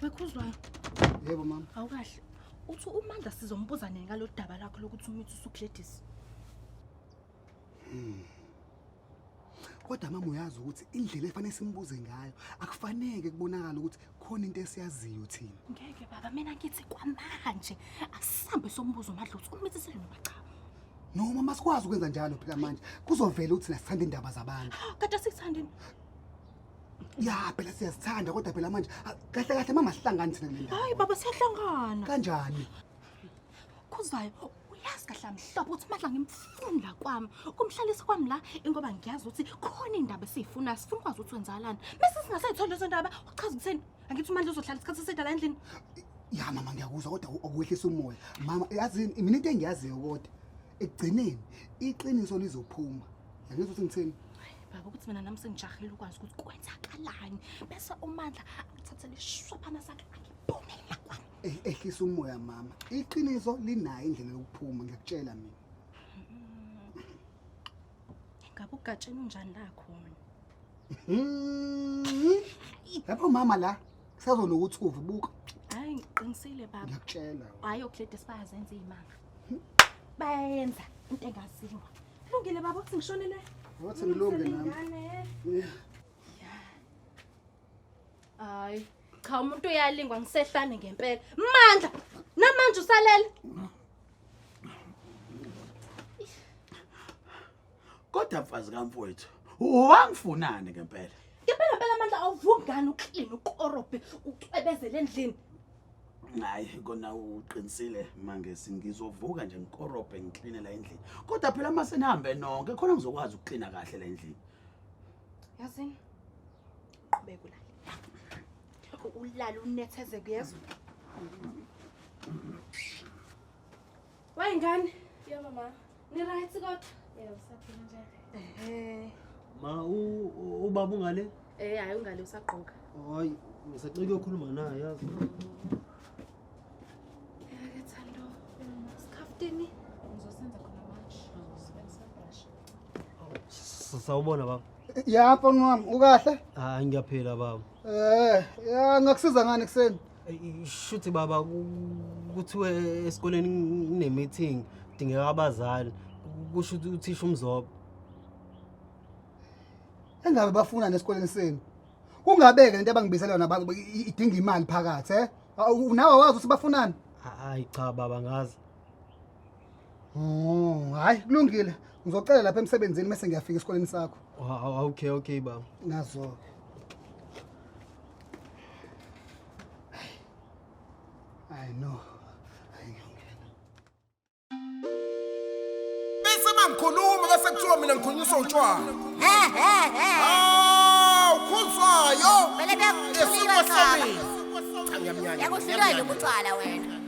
Wekhuzwayo. Yebo mama. Awukahle. Uthi uMandla sizombuza nini ngalo daba lakho lokuthi umithi usuGladys. Hmm. Kodwa mama uyazi ukuthi indlela efanele simbuze ngayo akufaneke kubonakala ukuthi khona into esiyaziyo thina. Ngeke baba mina ngithi kwamanje asihambe sombuzo uMandla uthi umithi selinoba cha. noma masikwazi ukwenza njalo phela manje kuzovela ukuthi nasithanda indaba zabantu kade sikuthanda ya phela siyazithanda kodwa phela manje ah, kahle kahle mama sihlangani thina kule ndawo hayi baba siyahlangana kanjani khuzayo uyazi kahle amhlophe ukuthi madla ngimfunda kwami kumhlalisa kwami la ingoba ngiyazi ukuthi khona indaba esiyifuna sifuna ukwazi ukuthi wenzalani bese singasayitholi lezo ndaba uchaza ukutheni angithi umandla uzohlala isikhathi eside la endlini ya mama ngiyakuzwa kodwa awuwehlisa umoya mama yazini mina into engiyaziyo kodwa ekugcineni iqiniso lizophuma yangizwa ukuthi ngithini baba ukuthi mina nami sengijahile ukwazi ukuthi kwenzakalani bese umandla angithathele ishophana sakhe angiphume la kwami Eh, ehlisa umoya mama iqiniso linayo indlela yokuphuma ngiyakutshela mina ngabe ugatsheni unjani la khona Mhm. lapho mama la Kusazonokuthi uve buka. Hayi ngiqinisile baba. Ngiyakutshela. Hayi oklede sibayazenza izimanga. Bayayenza into engaziwa. Kulungile baba ukuthi ngishonele. Wathi ngilunge nami. Hayi cha umuntu uyalingwa ngisehlane ngempela. Mandla namanje usalele. Kodwa mfazi kamfowethu, wangifunani ngempela? Ngempela phela amandla awuvungani uklini ukorobhe ucwebezele endlini. Hayi kona uqinisile mangesi ngizovuka nje ngikorobhe ngikline la endlini. Kodwa phela uma senihambe nonke khona ngizokwazi ukuklina kahle la endlini. Yazini. Qhubeka ulale. Ulale unetheze kuyezwa. Wayingane? Yebo mama. Ni right kodwa? Yebo saphila nje. Ehhe. Ma u ubaba ungale? Eh hayi ungale usagqoka. Hayi ngisacela ukukhuluma naye yazi. Yake Thando. Sikhaftini. Ngizosenza khona manje. Sibenzisa brush. Sawubona baba. Ya mfana wami ukahle? Hayi ngiyaphila baba. Eh, ya ngakusiza ngani kuseni? shuthi baba kuthiwe esikoleni kunemeeting kudingeka abazali kusho ukuthi uthisha umzobo engabe bafuna nesikoleni senu kungabeke lento abangibizela yona ba- i- idinga imali phakathi eh Awu, nawe wazi ukuthi bafunani hayi cha baba ngazi Oh, hayi kulungile. Ngizocela lapha emsebenzini bese ngiyafika esikoleni sakho. Wow, okay okay baba. Nazo. I know. Bese mangikhuluma bese kuthiwa mina ngikhulunyiswa utshwala. Eh eh eh. Ah, ukhuzwayo. Bele bekukhuluma sami. Cha ngiyamnyanya. Yakuhlulayo ubutshwala wena.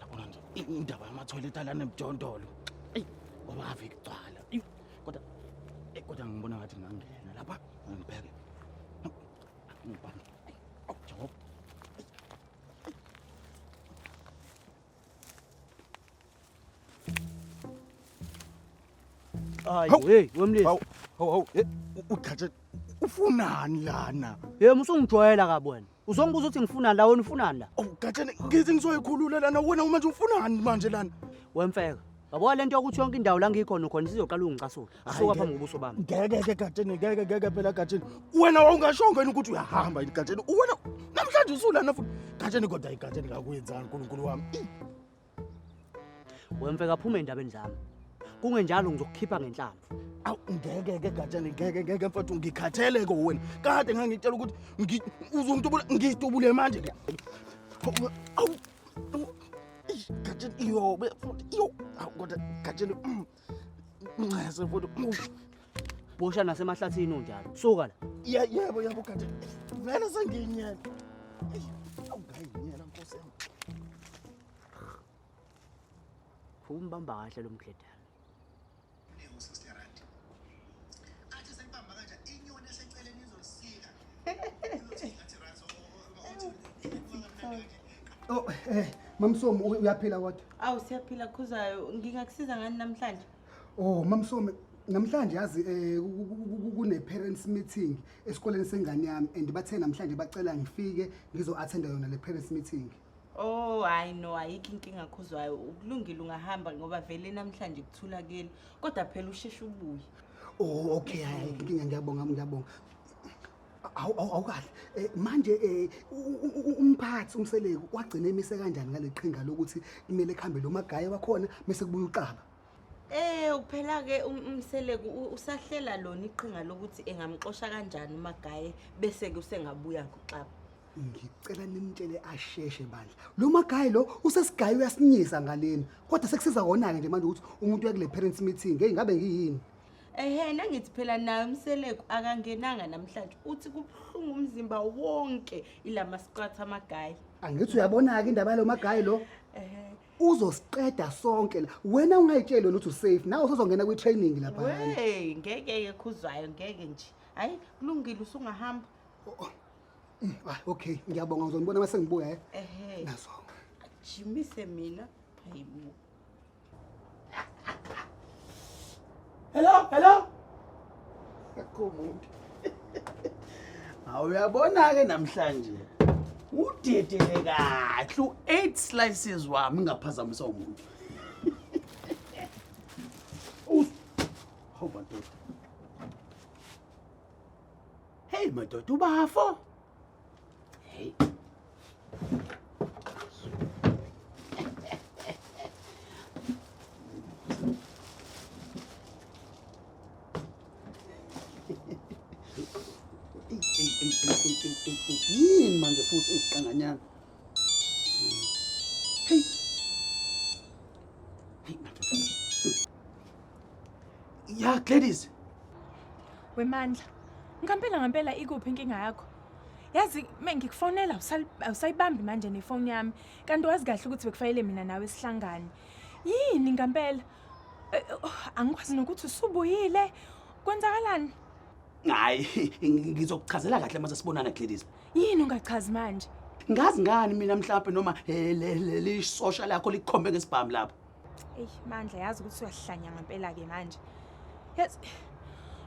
Yabona nje indaba yamathoyilethi alana emjondolo. Eyi ngoba ave kugcwala. Eyi kodwa eyi kodwa ngibona ngathi ngangena lapha ngibheke. Ngibheke. Awu Jehova. Hayi, Hawu. hey, wemlisi. Hawu, hawu, hawu, eh, u- uGatsha ufunani lana? Yema usungijwayela kabi wena. Uzongibuza ukuthi ngifunani la wena ufunani la? Oh, Gatsheni, ngithi ngizoyikhulula lana wena uma nje ufunani manje lana. Wemfeka. Yabo lento yokuthi yonke indawo la ngikhona khona isizoqala ungicasula. Suka phambi kobuso bami. Ngeke ke Gatsheni, ngeke ngeke phela Gatsheni. Wena wawungashongo yini ukuthi uyahamba yini Gatsheni? Wena namhlanje usulana futhi. Gatsheni kodwa iGatsheni ngakwenzani uNkulunkulu wami? Ih, wemfe kaphume endabeni zami kungenjalo ngizokukhipha ngenhlamvu awu ngeke ke gatshane ngeke ngeke mfowethu ngikhathele ko wena kade ngangitshela ukuthi ngi- uzongitubula ngitubule manje ke Hawu, awu awu, eish, gatshane iyobe futhi iyo awu kodwa gatshane mm. Ncese futhi. Bosha nasemahlathini unjalo. Suka la. Ye- Yebo yebo kanti vele sengiyinyela. Eyi, Awungayinyela nkosi yami. Umbamba kahle lo mkhedana. Oh, eh, mamsomo uyaphila kodwa? Awu siyaphila khuzayo. Ngingakusiza ngani namhlanje? Oh, mamsomo namhlanje yazi eh kune parents meeting esikoleni sengane yami and bathe namhlanje bacela ngifike ngizo attenda yona le parents meeting. Oh hayi no ayikho inkinga khuzwayo ukulungile ungahamba ngoba vele namhlanje kuthulakele kodwa phela usheshe ubuye oh okay hayi inkinga ngiyabonga ngiyabonga Awu- awu- awukahle Eh, manje eh, u- u- u- umphathi umseleku wagcina emise kanjani ngale qhinga lokuthi kumele kuhambe lo magaye wakhona bese kubuya uqaba Eh uphela ke um- umseleku u- usahlela lona iqhinga lokuthi engamxosha kanjani umagaye bese ke usengabuya ngoxaba. ngicela nimtshele asheshe bandla lo magayi lo usesigayi uyasinyisa ngaleni kodwa sekusiza wona-ke nje manje ukuthi umuntu uya kule parents meeting eyi ngabe ngiyini ehe nangithi phela naye umseleku akangenanga namhlanje uthi kubuhlungu umzimba wonke ila masiqatha amagayi angithi uyabona-ke indaba yalo magayi lo ehe uzosiqeda sonke la wena ungayitsheli wena ukuthi usafe nawe usuzongena kwi-training lapha wey ngeke-ke khuzwayo ngeke nje hhayi kulungile usungahamba Oh, oh. Mm, ah, okay, ngiyabonga uzonibona mase ngibuya eh. Ehhe. Naso. Jimise mina. Hayibo. Hello, hello. Akumuntu. Awuyabona ke namhlanje. Udedele kahle u8 slices wami ngaphazamisa umuntu. Us. Hoba ndoda. Hey madoda ubafo. Hey. Yini manje futhi iziqanganyana? Hey. Hey, ya Gladys. Wemandla. Ngampela ngampela ikuphi inkinga yakho? Yazi mengikufonela usayibambi manje nefoni yami. Kanti wazi kahle ukuthi bekufanele mina nawe sihlangane. Yini ngampela? Eh, oh, angikwazi nokuthi usubuyile. Kwenzakalani? hayi ngizokuchazela kahle uma sesibonana Gladys yini ungachazi manje ngazi ngani mina mhlawumbe noma eh, le- le- lisosha lakho likhombe ngesibhamu lapho eyi mandla yazi ukuthi uyahlanya ngempela-ke manje yazi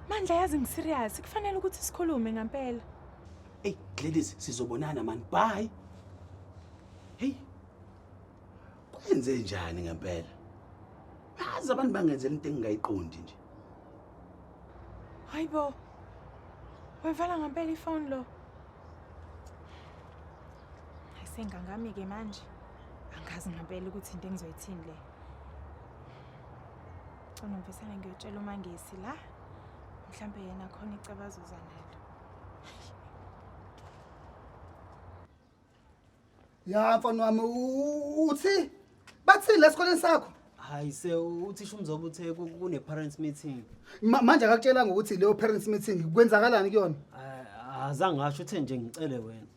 mandla yazi ngisiriyasi kufanele ukuthi sikhulume ngempela eyi Gladys sizobonana mani bye heyi kwenze njani ngempela azi abantu bangenzela into engingayiqondi nje Hayi bo. Wevala ngempela ifoni lo. Ayisengangami ke manje. Angazi ngempela ukuthi into engizoyithini le. Cona mfisane ngiyotshela uMangesi la. Mhlambe yena khona icabazo zanalo. ya mfana wami u- uthi bathini la esikoleni sakho hayi se uthisha umzoba uthe ku- kune-parents meeting Ma- manje akakutshelanga ukuthi leyo parents meeting kwenzakalani kuyona Ah, azange ngasho uthe nje ngicele wena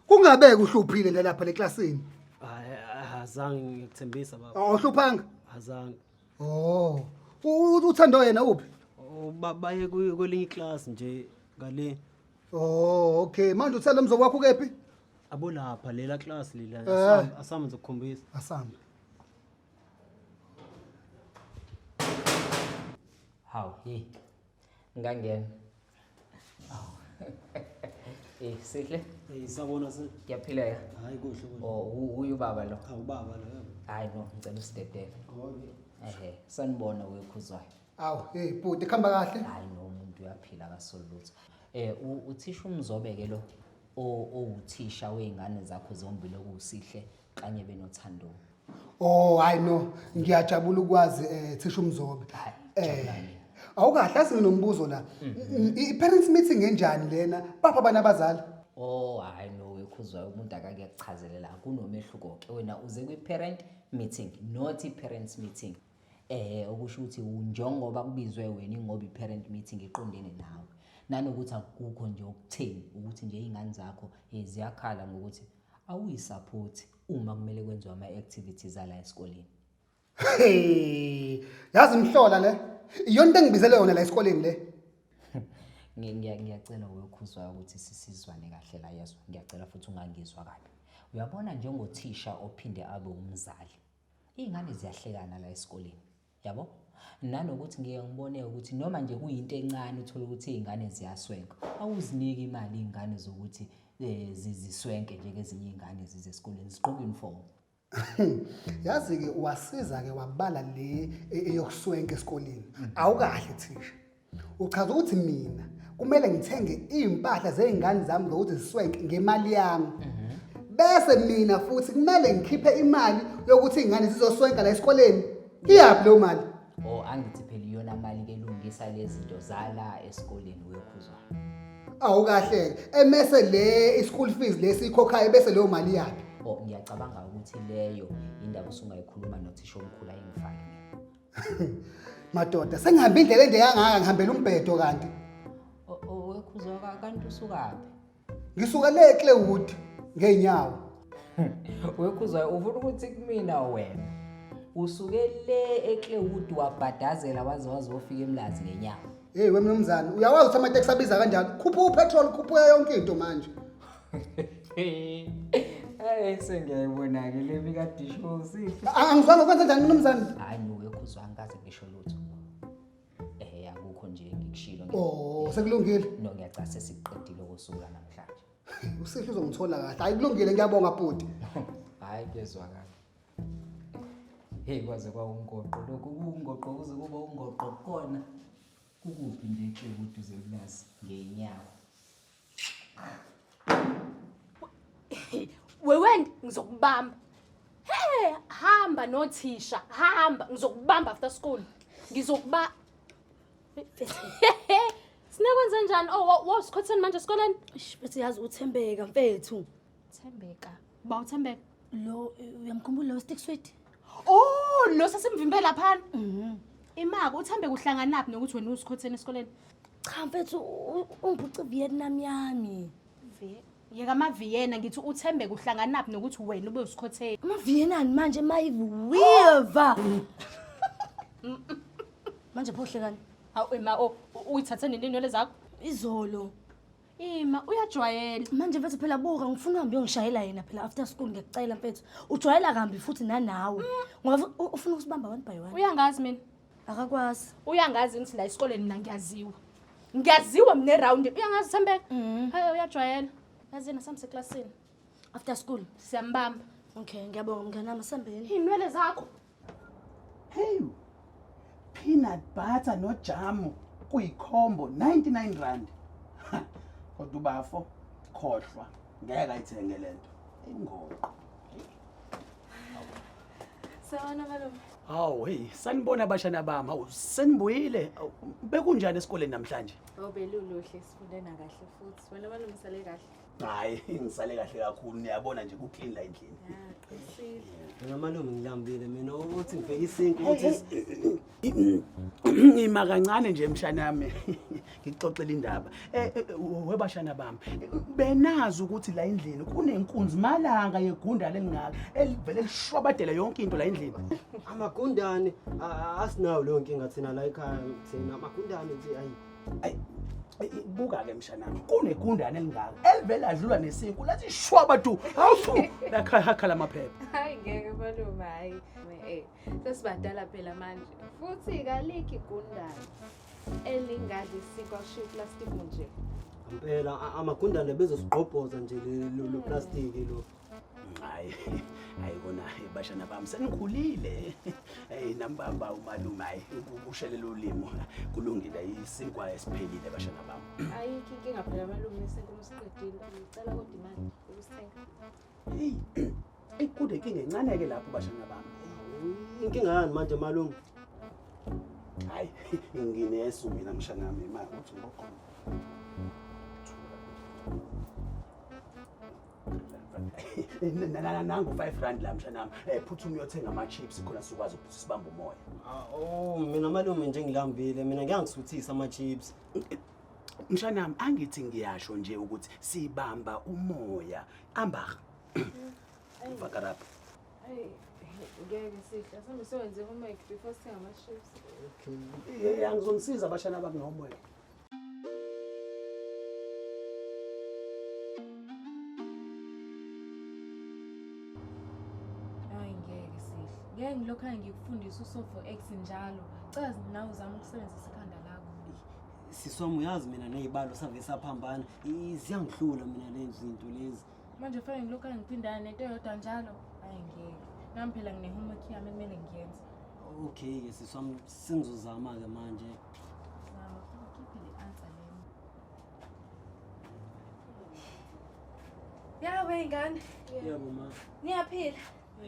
kungabeke uhluphile nje lapha leklasini hayi ah, azange ngikuthembisa baba awuhluphanga azange oh U- u- uthando yena uphi Oh, ba- baye kwi- kwelinye iklasi nje ngale Oh, okay. Manje uthela mzo kwakho kephi? Abonapha lela class lila. Eh. Asami ngizokukhombisa. Asami. Hawu, hey. Ngangena. Hawu. Eh, sihle. Eh, sabona se. Ngiyaphileka. Hayi kuhle kuhle. Oh, uyu baba lo. Hawu baba lo. Hayi no, ngicela usidedele. Okay. Ehe, sanibona wekhuzwayo. Awu, hey bhuti khamba kahle. Hayi no umuntu uyaphila akasolutho. Eh u- uthisha umzobe ke lo o- owuthisha weingane zakho zombili okuwusihle kanye benothando. Oh hayi no, ngiyajabula ukwazi eh thisha umzobe. Hayi, Eh jabulani. awukahle azi nginombuzo la. Mm, I parents meeting enjani lena? Bapha bana abazali. Oh hayi no wekhuzwa umuntu akake kuchazelela kunomehluko ke wena uze kwi parent meeting not i parents meeting. Ehhe okusho ukuthi u- njengoba kubizwe wena ingoba i-parent meeting iqondene nawe. Nanokuthi akukho nje okutheni ukuthi nje iy'ngane zakho eh, ziyakhala ngokuthi awuyisaphothi uma kumele kwenziwe ama-activities ala esikoleni. Hey, yazi mhlola le iyona into engibizele yona la esikoleni le Ngi- ngiya- Ngiyacela uyokhuzwayo ukuthi sisizwane kahle la yezwa. Ngiyacela futhi ungangizwa kabi. Uyabona njengothisha ophinde abe umzali. Iy'ngane ziyahlekana la esikoleni yabo nanokuthi ngike ngibone ukuthi noma nje kuyinto encane uthole ukuthi iy'ngane ziyaswenka awuziniki imali iy'ngane zokuthi um ziziswenke njengezinye iy'ngane zize esikoleni zigqoke uniform Yazi-ke wasiza-ke wabala le e- eyokuswenka esikoleni. Awukahle thisha. Uchaza ukuthi mina kumele ngithenge iy'mpahla zey'ngane zami zokuthi ziswenke ngemali yami bese mina futhi kumele ngikhiphe imali yokuthi iy'ngane zizoswenka la esikoleni iyaphi leyo mali o Oh, angithi phela iyona mali kelungisa lezinto zala esikoleni uyokhuzwa awukahleke emese le i-school fees lesiyikhokhayo bese leyo mali yaphi o ngiyacabanga ukuthi leyo indawo usungayikhuluma nothisha omkhulu ayingifake Madoda, sengihambe indlela ende kangaka ngihambela umbhedo kanti. Wekhuzoka kanti usukaphi? Ngisuka le Clewood ngeenyawo. Wekhuzoka ufuna ukuthi kumina wena. Usuke le eClewood wabhadazela waze wazofika eMlazi ngenyawo. Hey wemnumzane, uyawazi ukuthi amateksi abiza kanjani? Khupha upetrol, khupha yonke into manje. Hayi sengiyayibona-ke le bikadishosi. A- Angizwanga kwenza njani mnumzane? Hayi nuke khuzwa angikaze ngisho lutho. Eh akukho nje ngikushilo ngi- Oh, sekulungile. no ngiyacasa sesiqedile ukusuka namhlanje. Usihle uzongithola kahle. Hayi kulungile ngiyabonga bhuti. Hayi kuyezwakala. Hey kwaze kwawungoqo lokhu kungoqo kuze kube ungoqo kona. Kukuphi nje ke kuduze kulazi ngenyawo. Wewendi ngizokubamba. Hey, hamba nothisha, hamba ngizokubamba after school. Ngizokuba Sinekwenze njani? Oh, wa- wasikhotheni manje esikoleni? Eish, Mfethu yazi uthembeka mfethu. Thembeka. Ba uThembeka. Lo uyamkhumbula lo stick sweet? Oh, lo sesimvimbe laphana. Mhm. Imaka uThembeka uhlanganaphi nokuthi wena usikhotheni esikoleni? Cha mfethu u- ungiphuce Vietnam yami. Vie- Yeka amaviyena ngithi uThembeka uhlanganaphi nokuthi wena ube usikhotheni. Amaviyenani manje mayiviva. Manje phohlekani? Hawu ema o u- uyithathe nini inwele zakho? Izolo Ima uyajwayela. Manje mfethu phela buka ngifuna uhambe uyongishayela yena phela after school ngiyacela mfethu. Ujwayela kambi futhi nanawe. Ngoba u- ufuna ukusibamba one by one. Uyangazi mina. Akakwazi. Uyangazi ngithi la esikoleni mina ngiyaziwa. Ngiyaziwa mina eround. Uyangazi Thembeka? Mhm. Hayi uyajwayela. Yazi yena samse classini. After school. Siyambamba. Okay, ngiyabonga mnganami sambeni. Inwele zakho. Hey, peanut butter nojamu kuyikhombo 99 rand. Kodwa ubafo khohlwa ngeke ayithenge lento. Ingoqo. Sawona malume. Hawu hey sanibona abashana bami hawu senibuyile Hawu, bekunjani esikoleni namhlanje Oh beluluhle sifunde nakahle futhi. Wena malungisele kahle. hayi ngisale kahle kakhulu niyabona nje kuclean la endlini Mina malume ngilambile mina ukuthi ngibheke isinki ukuthi ngima kancane nje mshana yami ngixoxela indaba eh, eh, eh, webashana bami benazi ukuthi la endlini kunenkunzi malanga yegunda lelingaka elivele lishwabadela yonke into la endlini amagundane asinawo leyo nkinga thina la ekhaya thina amagundane nje ayi buka-ke mshanami kunegundane elingaka elivele adlula nesinku lathi shwaba tu hawuthu lakhala amaphepha hayi ngeke malume hayi eh, sesibadala phela manje futhi kalikho igundane elingadli sikwa shiya iplastic nje ngempela amagundane bezosigqobhoza nje lo plastiki lo Hayi, hayi kona bashana bami senikhulile. Hey nambamba umalume hayi ukushelela ulimo kulungile isinkwa esiphelile bashana bami. Ayikho inkinga phela malume nesenkomo usiqedile. Ngicela kodwa imali ukusithenga. Hey, ikude inkinga encane ke lapho bashana bami. Inkinga yani manje malume? Hayi, nginesu mina mshana wami imali uthi ngokhona. nangu 5 rand la mshanami eh, phuthuma uyothenga ama-chips khona sikwazi ukuthi sibambe umoya ah, o oh, mina malume nje ngilambile mina ngiyangisuthisa ama-chips mshanami angithi ngiyasho nje ukuthi sibamba umoya ambaha vakarapha ngeke sihle sambe siwenze homework before sithenga ama-chips okay eh, angizomsiza abashana bami ngomoya lapho. ngeke ngilokhane ngikufundisa usofo x njalo cela nawe uzama ukusebenzisa ikhanda lakho siswami uyazi mina ney'balo save saphambana ziyangihlula mina lezi zinto lezi manje fanele ngilokhu angiphindana nento yodwa njalo ayi ngeke nami phela ngine-homework yami ekumele ngiyenze okay-ke siswam sengizozama-ke manje zama ukhiphe le answer lena yawe ingane yebo ma niyaphila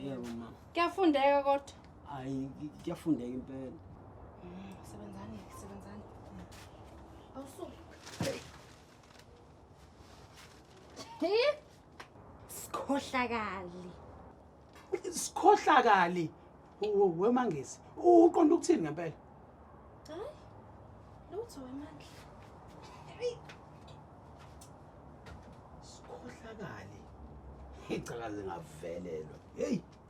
yebo ma kuyafundeka kodwa hayi kuyafundeka impela sebenzani sebenzani awusuke Eh? Sikhohlakali. Sikhohlakali. Wo- Wemangisi, uqonda ukuthini ngempela? Hayi. Lutho wemandla. Sikhohlakali. Icakaze ngavelelwa. Hey.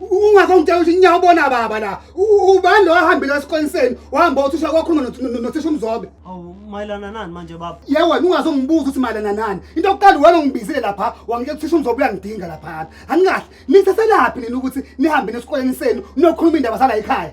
ungakongityela ukuthi nyawo ubona baba la ubani lo wahambile esikoleni senu wahamba othisha kwakhona nothisha umzobe awu mayelana nani manje baba ye wena ungazongibuza ukuthi mayelana nani into yokuqala wena ungibizile lapha wangitshela uthisha umzobe uyangidinga lapha anikahle niseselaphi nina ukuthi nihambe nesikoleni senu niyokhuluma iy'ndaba zala yikhaya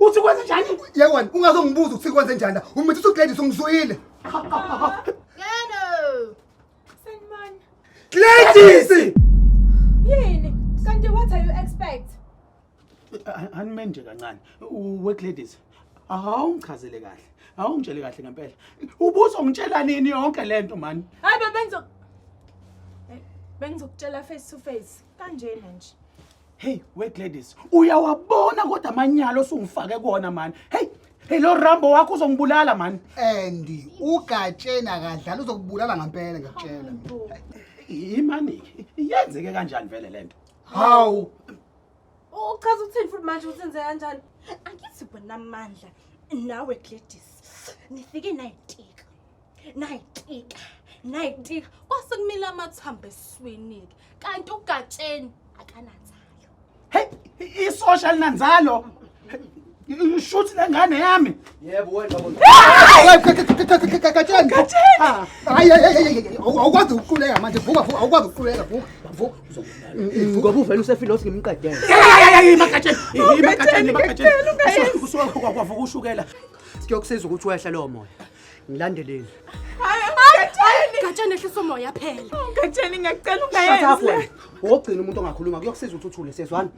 uthi kwenze njani yewena ungazongibuza ukuthi kwenze njani la umithi usugladys ungizwile Yeno. Sanibona. gladys Yini? Kanti what are you expect? anime nje kancane U- we gladys awungichazele kahle awungitshele kahle ngempela ubuzongitshela nini yonke le nto mani Hayi bebe ngizo Hey, Bengizokutshela face to face. kanjena nje hey we gladys uyawabona kodwa amanyala osungifake kona mani hey hey lo rambo wakho uzongibulala mani and ugatsheni akadlala uzokubulala ngampela ngakutshela imani yenzeke kanjani vele le nto hawu uchaza ukuthini futhi manje ukuthi enze kanjani angithi bonamandla nawe gladys nifike nayitika nayitika nayitika kwase kumile amathambo eswini-ke kanti ugatsheni akananzalo heyi isosha linanzalo shuthi lengane yami yebo wena gatsheni hayi awukwazi ukuquleka manje vuka vuka awukwazi ukuquleka vuka vuka ngoba uvele usefile othi ngimqedele imagatsheni imagatsheni imagatsheni usuke kwavuka ushukela kuyokusiza ukuthi wehle lowo moya ngilandeleni gatshana ehlisa umoya phela gatshana ngiyacela ungayenzi wogcina umuntu ongakhuluma kuyokusiza uthuthule sezwana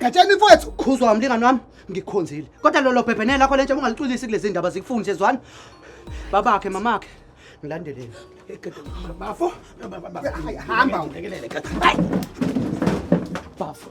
gatshana mfowethu khuzwa umlingani wami ngikhonzile kodwa lolo bhebhenele lakho lentsha ungalicwilisi kulezi ndaba zikufundi sezwana babakhe mamakhe ngilandeleni bafo hamba ungekelele bafo